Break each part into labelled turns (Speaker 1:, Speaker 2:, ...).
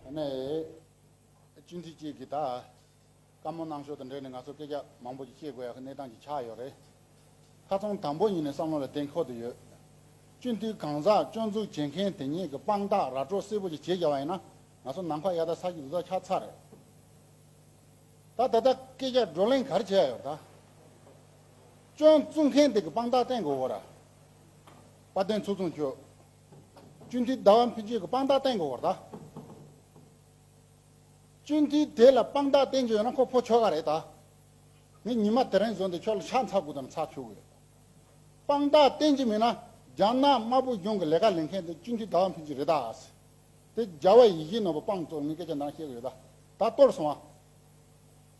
Speaker 1: དེ་ནས། སྤྱི་འཐུས་གཅིག་གིས་ད། བཀའ་མོལ་གནང་ཕྱོགས་དང་འབྲེལ་ནས་ང་ཚོར་སྐད་ཆ་མང་པོ་ཞིག་བཤད་དགོས་ཡག་གནས་སྟངས་ཀྱི་ཆགས་ཡོད་རེད། ཁ་ཚོན་དམ་པོ་ཡིན་ནས་བསམ་བློ་ལ་བདེན་ཁོ་ཐུ་ཡོད། སྤྱི་འཐུས་གང་ཟག་སྐྱོན་འཛུགས་བྱེད་མཁན་དེ་ཉིད་ཀྱི་དཔང་རྟགས་ར་སྤྲོད་སེར་པོ་ཞིག་བྱེད་བཞག་པ་ཡིན་ན་ང་ཚོ་ནམ་མཁའ་གཡའ་དག་ས་ཀྱི་འུར་ཚགས་ཆགས་ཚར་རེད། ད་ད་ལྟ་སྐད་ཆ་བགྲོ་གླེང་ག་རེ་བྱས་ཡོད་ད། སྐྱོན་བཙུགས་མཁན་དེ་གི་དཔང་རྟགས་བསྟན་དགོས་གོ་ར། དཔའ་སྟོན་ཚུགས་ཚུགས་ཁྱོད། ཅུན་ཏི་ཟླ་བ་འཕེན་བྱེད་ཀྱི་དཔང་རྟགས་བསྟན་དགོས་པར་གདའ། ཅུན་ཏི་དེ་ལ་དཔང་རྟགས་བསྟན་རྒྱུ་ཡོད་ན་ཁོ་ཕོ་ཆོ་ག་རེད་གདའ། ངས་ཉི་མ་དེ་རིང་བཟོས་འདི་ཁྱོད་ལ་ཕྱག་འཚལ་དགོས་དམ་ཚགས་ཆུག་གི། དཔང་རྟགས་བསྟན་གྱི་མེད་ན་རྒྱ་ནག་དམར་པོ་གཞུང་གི་ལས་ཀ་ལེན་མཁན་དེ་ཅུན་ཏི་ཟླ་བ་འཕེན་བྱེད་རེད་གདའ། དེ་རྒྱ་བལ་ཡི་གེའི་ནང་པོ་དཔང་བཙོག་ངས་སྐད་ཆ་འདང་བཤད་གི་རེད་གདའ། ད་གཏོར་སོང་ཨ།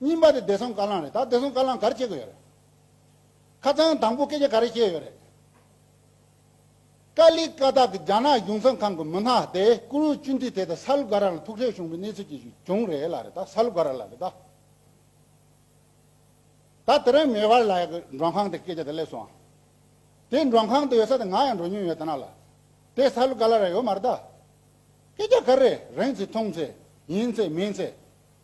Speaker 1: གཉིས་པ་དེ་བདེ་སྲུང་བཀའ་བླང་རེད་ད་བདེ་སྲུང་བཀའ་བླང་ག་རེ་བྱེད་དགོས་ཡོད་རེད། ཁ་ཚང་དང་པོ་སྐད་ཆ་ག་རེ་བཤད་ཡོད་རེད། ཀ་ལི་ཀ་ཐག་གི་རྒྱ་ནག་གཞུང་ཚང་ཁང་གི་མི་སྣ་དེ་ཀུ་རུ་ཅུན་ཏི་དེ་ད་ས་ལུ་ག་ར་ལ་ཐུག་འཕྲད་བྱུང་བའི་གནས་ཚུལ་གྱི་བྱུང་རེད་ལ་རེད་ད་ས་ལུ་ག་ར་ལ་རེད་ད། ད་དེ་རིང་མེ་བར་ལ་ཡག་གི་མགྲོན་ཁང་དེ་སྐད་ཆ་དེ་སླེབས་སོང་ཨང། དེ་མགྲོན་ཁང་དུ་ཡོད་ས་དེ་ང་ཡང་འགྲོ་མྱོང་ཡོད་ད་ན་ལ། དེ་ས་ལུ་ག་ལ་ར་ཡོད་མ་རེད་ད། སྐད་ཆ་ག་རེ་རེད་ཚེ་མཐོང་ཚེ་ཡིན་ཚེ་མིན་ཚེ།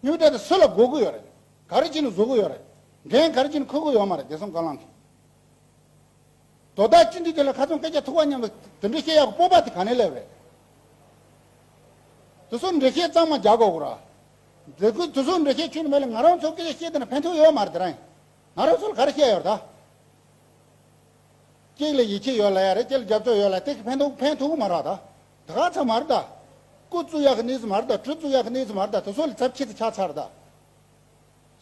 Speaker 1: སྨྱུག་འདྲ་དེ་སུ་ལ་འགོག་གི་ཡོད་རེད། ག་རེ་བྱེད་ནས་བཟོ་གི་ཡོད་རེད། འགན་ག་རེ་བྱེད་ནས་འཁུར་གི་ཡོད་མ་རེད་བདེ་སྲུང་སྒང་ལངས་མཁན། དོ་བདག་སྤྱི་འཐུས་དེ་ལ་ཁ་ཚོན་སྐད་ཆ་ཐུག་པ་སྙམ་ལ་དེ་འདྲི་ཤེས་ཡག་གི་སྤོབས་པ་དེ་ག་ནས་སླེབས་རེད། དེ་ཚོར་འདྲི་ཤེས་གཙང་མ་རྒྱག་དགོས་གོ་ར། མཛད་ཁུལ་དེ་ཚོར་འདྲི་ཤེས་ཆུད་ནས་མེད་ལ་ང་རང་ཚོར་སྐད་ཆ་བཤད་དེ་ན་ཕན་ཐོགས་ཡོད་མ་རེད་དེ་རང་ང་རང་ཚོ་ལ་ག་རེ་བཤད་ཡོད་རེད་ད། གཅིག་ལ་ཡིད་ཆེས་ཡོད་ལ་ཡ་རེད་གཅིག་ལ་རྒྱབ་སྐྱོར་ཡོད་ལ་དེ་གིས་ཕན་ཐོགས་ཕན་ཐོགས་གི་མ་ར་ད། དགའ་ཚ་མར་དགའ། སྐུ་བཙུ་ཡག་གནས་ཚུལ་མར་དགའ་གྲུ་བཙུ་ཡག་གནས་ཚུལ་མར་དགའ་དེ་ཚོ་ལས་ཚབ་ཁྱི་ཚེ་ཁྱག་ཚར་དགའ།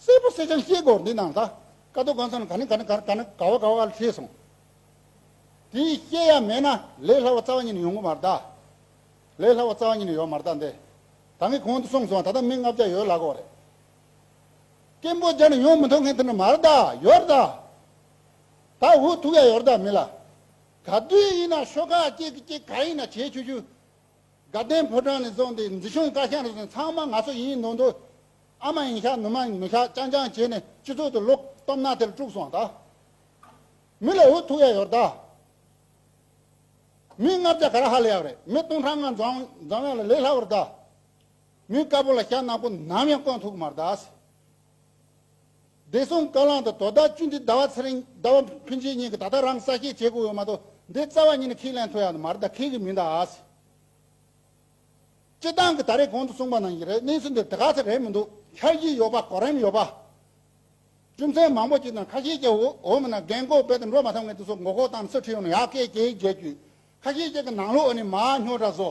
Speaker 1: སེར་པོ་སེར་ཆང་ཤེས་སྒོར་འདི་ནང་དགའ། དཀའ་སྡུག་དགའ་མཚམས་ག་ནི་ག་ནི་ག་ག་ནི་ག་བ་ག་བ་ག་ལ་ཁྲིད་སོང། དེ་ཡིས་ཤེས་ཡ་མེད་ན་ལས་སླ་བ་རྩ་བ་ཉིད་ནས་ཡོང་གི་མར་དགའ། ལས་སླ་བ་རྩ་བ་ཉིད་ནས་ཡོང་མར་དགའ་འདི། ད་ངས་གོང་དུ་གསུངས་སོང་ད་ལྟ་མི་ལྔ་བརྒྱ་ཡོད་ལ་གོ་རེ། སྐད་འབོད་རྒྱ་ནས་ཡོང་མི་འཐོར་མཁན་དེ་ནི་མར་དགའ་ཡོར་དགའ། ད་འུ་ཐུག་ཡ་ཡོར་དགའ་མི་ལ། ག་དུས་ཡིན་ན་ཤོག་ཁག་གཅིག་གིས་གཅིག་ག་ཡིན་ན་བྱེད་ཆུ་ཆུ། དགའ་ལྡན་ཕོ་བྲང་ནས་བཙོང་སྟེ་འཛི་ཤོང་བཀའ་ཤག་ནས་བཟུང་ཚང་མ་ང་ཚོ་ཡིན་མདོག་མདོག། ཨ་མ་ཡིན་ཤག་ནུ་མ་ཡིན་ནུ་ཤག་ཅང་ཅང་བྱས་ནས་སྤྱི་ཚོགས་དུ་ལོག་སྟོབས་ནག་ཐེར་དཀྲུགས་སོང་ད། མི་ལ་འུ་ཐུག་ཡ་ཡོར་ད། མི་ལྔ་བརྒྱ་ག་ར་ཧ་ལས་ཡག་རེད་མི་སྟོང་ཕྲག་ལྔ་འཛོམས་ཡ་ལ་ལས་སླ་བར་ད། མི་དཀར་པོ་ལ་ཤ་ནག་པོ་ནམ་ཡང་བསྐོན་ཐུག་མར་ད། བདེ་སྲུང་བཀའ་བླང་དང་དོ་བདག་བཅུ་འདི་ཟླ་བ་ཚེ་རིང་ཟླ་བ་ཕུན་ཆེ་གཉིས་ཀྱིས་ད་ལྟ་རང་ས་སྐྱེས་བྱེད་དགོས་ཡོད་མ་གཏོགས་འདི་རྩ་བ་ཉིད་ནས་ཁས་ལེན་ཐུབ་ཡག་ནི་མ་རེད་ད་ཁས་ཀྱི་མི་འདའ་ཨ་སི། སྤྱི་བཏང་གི་ད་རེས་གོང་དུ་གསུངས་པ་ནང་བཞིན་རེད་གནས་ཚུལ་འདིར་དེ་ག་ཚད་རེད་མི་འདུག་འཆར་གཞི་ཡོད་པ་གོ་རིམ་ཡོད་པ། རྒྱུ་མཚན་མང་པོ་གཅིག་དང་ཁ་ཤས་ཀྱི་འོག་མིན་ན་འགན་འཁོར་འབད་དེ་འགྲོ་མ་ཐབས་ངེས་དེ་སོགས་མགོ་སྐོར་བཏང་ནས་སུ་ཁྲིད་ཡོང་ན་ཡག་སྐད་ཀྱེ་རྒྱལ་གྱིས་ཁ་ཤས་ཀྱི་ནང་ལོགས་ནས་མ་ཉོ་གྲྭ་བཟོ